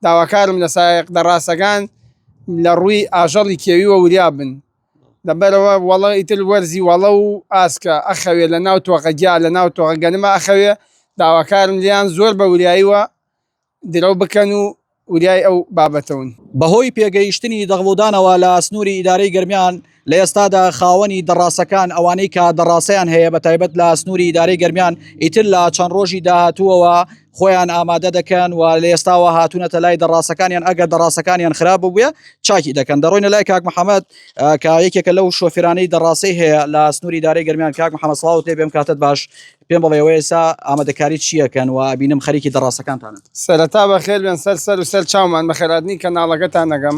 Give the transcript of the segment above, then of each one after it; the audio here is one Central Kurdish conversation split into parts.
داواکارم لە سایەق دەڕاسەگان لە ڕووی ئاژەڵی کێویوە وریا بن لەبەرەوە وەڵە ئیتر وەرزی وەڵە و ئاسکە ئەخەوێ لە ناو تۆقە گیا لە ناو تۆقە گەنمە ئەخەوێ داواکارم لێیان زۆر بە وریاییوە درەو بکەن و وریای ئەو بابەتەون. بەهۆی پێگەیشتنی دەغڵودانەوە لە سنوری ئیدارەی گەرمیان، لە ئێستادا خاوەنی دەڕاسەکان ئەوانەی کە دەڕاسەیان هەیە بە تایبەت لە سنووری دارەی گەرمیان ئیتر لە چەند ڕۆژی داهاتووەوە خۆیان ئامادە دەکەن و لە ئێستاوە هاتوونەتە لای دەڕاستەکانیان ئەگەر دەڕاستەکانیان خراپ ببووە چاکی دەکەن دەڕۆینە لای کاک محەممەد کە یەکێکە لەو شۆفرانەی دەڕاستی هەیە لە سنووری دارەی گەرمیان کاک محەممەد ساڵ تێ بێم کاتت باش پێم بڵێەوە ئێسا ئامادەکاری چیەکەن و بینم خەریکی دەڕاستەکانتانن سەرەتا بەخێر بێن سەر سەر و سەر چاومان بەخێراتنی کەناڵەکەتان نەگەم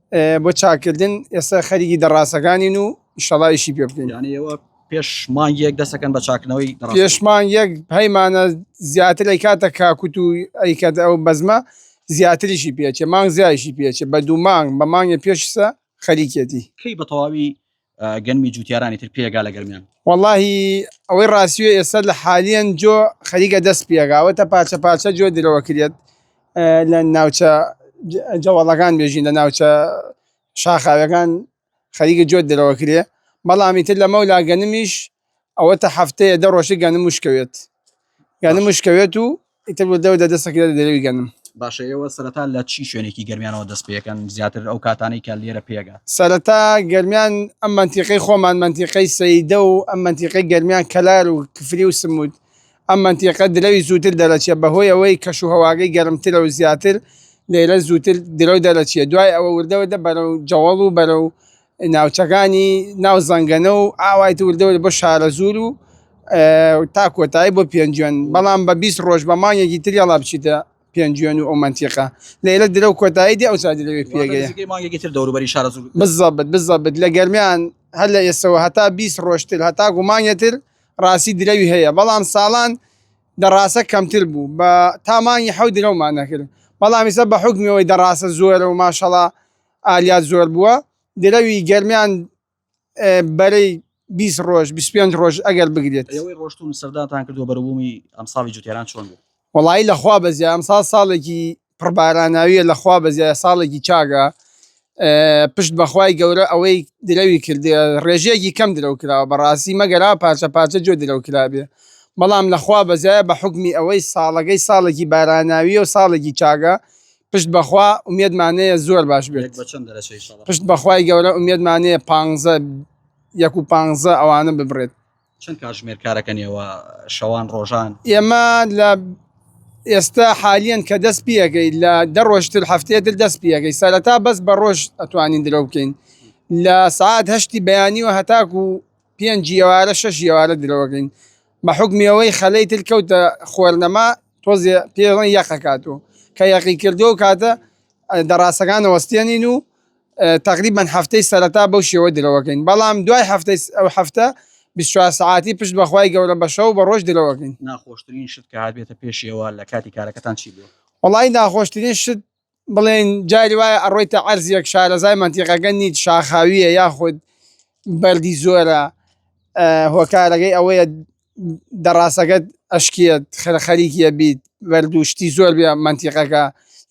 بۆ چاکردن ئێستا خەریکی دەڕاستەکانین و ئیشەڵا ئیشی پێ بکەین یعنی ئێوە پێش مانگێک دەستەکەن بە چاکنەوەی دەڕاست پێش مانگێک پەیمانە زیاتر ئەی کاتە کاکوت و ئەی کات ئەو بەزمە زیاتریشی پێچێ مانگ زیایشی پێچێ بە دوو مانگ بە مانگێ پێشسە خەریکێتی کەی بە تەواوی گەنمی جوتیارانی تر پێگا لە گەرمیان وەڵی ئەوەی ڕاستیە ئێستا لە حالیان جۆ خەریکە دەست پێگاوەتە پاچە پاچە جۆ درەوە کرێت لە ناوچە جەوەڵەکان بێژین لە ناوچە شاخاوەکان خەریکە جۆ درەوە کرێ بەڵامی تر لە مەولا گەنمیش ئەوەتا هەفتەیە دە ڕۆژی گەنم وشکەوێت گەنم وشکەوێت و ئیتر بۆ دەو دەدەسەکە دەرەوی گەنم باشە ئێوە سەرەتا لە چی شوێنێکی گەرمیانەوە دەست پێەکەن زیاتر ئەو کاتانەی کە لێرە پێگا سەرەتا گەرمیان ئەم منتیقی خۆمان منتیقی سەیدە و ئەم منتیقی گەرمیان کەلار و کفری و سمود ئەم منتیقە درەوی زووتر دەرەچێت بەهۆی ئەوەی کەش و هەواگەی گەرمترە و زیاتر لێرە زووتر درەو دەرەچێت دوای ئەوە وردەوردە بەرەو جەوەڵ و بەرەو ناوچەکانی ناو زەنگەنە و ئاوای دوردەور بۆ شارەزوور و تا کۆتایی بۆ پێنجوێن، بەڵام بە بیست ڕۆژ بە مانگێکی تر یەڵا بچیتە پێنجوێن و ئەو مەنتیقە لەیلە درەو کۆتایی دێ ئەوسا درەوی پێگەیە. واتە نزیکەی مانگێکی تر دەوروبەری شارەزوور بکەن. بزەبت بزەبت لە گەرمیان هەر لە ئێستەوە هەتا بیست ڕۆژ تر هەتاکوو مانگێ تر ڕاستی درەوی هەیە بەڵام ساڵان دەڕاسە کەمتر بوو بە تا مانگی حەوت درەومان نەکرد بەڵام ئیسە بە حوکمی ئەوەی دەڕاسە زۆرە و ماشەڵا ئالیا زۆربووە درەوی گەرمیان بەرەی بیست ڕۆژ بیست پێنج ڕۆژ ئەگەر بگرێت. ئێوەی ڕۆشتون سەردانتان کردووە بەروبوومی ئەمساڵی جوتێران چۆن بوو؟ وەڵایی لەخوا بەزیە ئەمساڵ ساڵێکی پڕ باراناویە لەخوا بەزیە ساڵێکی چاکە پشت بەخوای گەورە ئەوەی درەوی کردێ ڕێژەیەکی کەم درەو کراوە بەڕاستی مەگەرا پارچە پارچە جۆ درەو کرابێ بەڵام لەخوا بەزایە بە حوکمی ئەوەی ساڵەکەی ساڵێکی باراناویە و ساڵێکی چاکە پشت بەخوا ئومێدمانەیە زۆر باش بێت. یەک بە چەند دەرەچەی ئینشاڵا. پشت بەخوای گەورە ئومێدمانەیە پانزە یەک و پانزە ئەوانە ببڕێت. چەند کاتژمێر کارەکەن ئێوە شەوان ڕۆژان؟ ئێمە لە ئێستا حالیەن کە دەست پیەکەی لە دە ڕۆژتر هەفتەیە تر دەست پیەکەی سەرەتا بەس بە ڕۆژ ئەتوانین درەو بکەین لە سعات هەشتی بەیانیوە هەتاکو پێنج یەوارە شەش یەوارە درەوەگرین بە حوکمی ئەوەی خەلەی تر کەوتە خوەرنەما تۆزێ پێ ڵێن یەقە کات و کە یەقی کردوە و کاتە دەڕاسەکان ئەوەستێنین و تەقریبەن هەفتەی سەرەتا بەو شێوە درەوەگرین بەڵام دوای هەفتەی ئەو هەفتە بیست چوار سەعاتی پشت بە خوای گەورە بە شەو بە ڕۆژ درەوەگرین. ناخۆشترین شت کە هاتبێتە پێشیەوە لە کاتی کارەکەتان چی بووە؟ وەڵایی ناخۆشترین شت بڵێین جاری وایە ئەڕۆیتە عەرزیەک شارەزای مەنتیقەکە نیت شاخاویە یاخود بەردی زۆرە هۆکارەکەی ئەوەیە دەڕاسەکەت ئەشکێت خەریکە بیت بەرد و شتی زۆر بێ مەنتیقەکە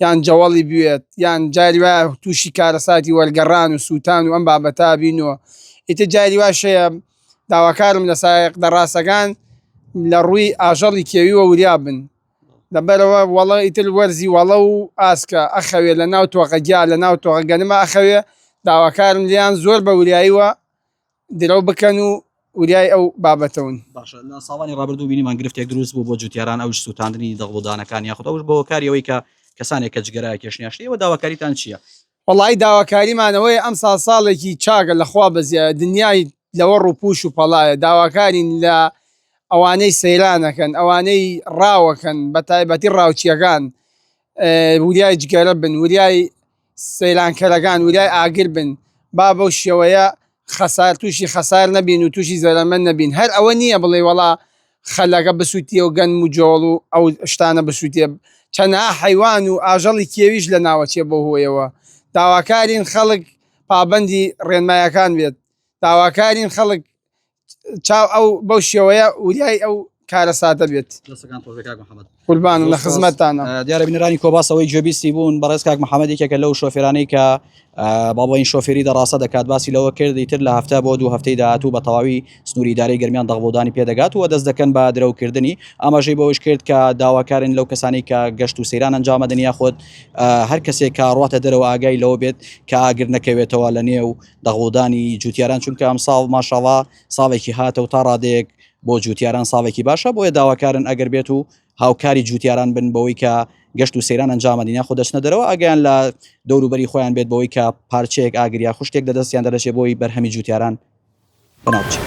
یان جەوەڵی بوێت یان جاری وایە تووشی کارەساتی وەرگەڕان و سووتان و ئەم بابەتا بینەوە ئیتە جاری واشەیە داواکارم لە سایق دەڕاسەکان لە ڕووی ئاژەڵی کێوی وە وریا بن دەبەرەوە وەڵە ئیتر وەرزی وەڵە و ئاسکە ئەخەوێ لە ناو تۆقە گیا لە ناو تۆقە گەنمە ئەخەوێ داواکارم لێیان زۆر بە وریاییوە درەو بکەن و وریای ئەو بابەتە ون. باشە لە ساڵانی ڕابردوو بینیمان گرفتێک دروست بوو بۆ جوتیاران ئەوش سوتاندنی دەغڵ و دانەکان یاخود ئەوش بە هۆکاری ئەوەی کە کەسانێک کە جگەرایەکێشن یا شتی ئێوە داواکاریتان چیە وەڵایی داواکاریمان ئەوەیە ئەمساڵ ساڵێکی چاکە لە خوا بەزیایە دنیای لەوە ڕوپوش و پەڵایە داواکارین لە ئەوانەی سەیرانەکەن ئەوانەی ڕاوەکەن بەتایبەتی ڕاوچیەکان وریای جگەرە بن وریای سەیرانکەرەکان وریای ئاگر بن با بەو شێوەیە خەسار توشی خەسار نەبین و توشی زەرەمەند نەبین هەر ئەوە نییە بڵێی وەڵا خەلەکە بسوتیە و گەنم و جۆڵ و ئەو شتانە بسوتێ چەنەها حەیوان و ئاژەڵی کێویش لە ناوەچێ بەو هۆیەوە داواکارین خەڵک پابەندی ڕێنمایەکان بێت داواکارین خەڵک چاو ئەو بەو شێوەیە وریای ئەو کارەساتە بێت. دەستەکان خۆش بێت کاک محمد. قوربان لە خزمەتانە دیارە بینەرانی کۆباسەوەی جێبیستی بوون بەڕێز کاک محەممەد یەکێکە لەو شۆفێرانەی کە باڵین شۆفێری دەڕاستە دەکات باسی لەوە کردی تر لە هەفتە بۆ دوو هەفتەی داهاتوو بە تەواوی سنووری دارەی گرمیان دەغڵودانی پێدەگات و دەست دەکەن بە درەوکردنی ئاماژەی بەوەش کرد کە داواکارن لەو کەسانی کە گەشت و سەیران ئەنجامە دنیا خۆت هەر کەسێک کاڕاتە دەرەوە ئاگای لەوە بێت کە ئاگر نەکەوێتەوە لە نێو دەغڵودانی جوتیاران چونکە ئەم ساڵ ماشاڵا ساڵێکی هاتە و تا ڕادێک بۆ جوتیاران ساڵێکی باشە بۆیە داواکارن ئەگەر بێت و هاوکاری جوتیاران بن بەوەی کە گەشت و سەیران ئەنجامە دینە خۆ دەچنە دەرەوە ئەگەیان لە دەوروبەری خۆیان بێت بەوەی کە پارچەیەک ئاگریا خوشتێک لە دەستیان دەدەچێت بۆی بەرهەمی جوتیاران بەناوچێت.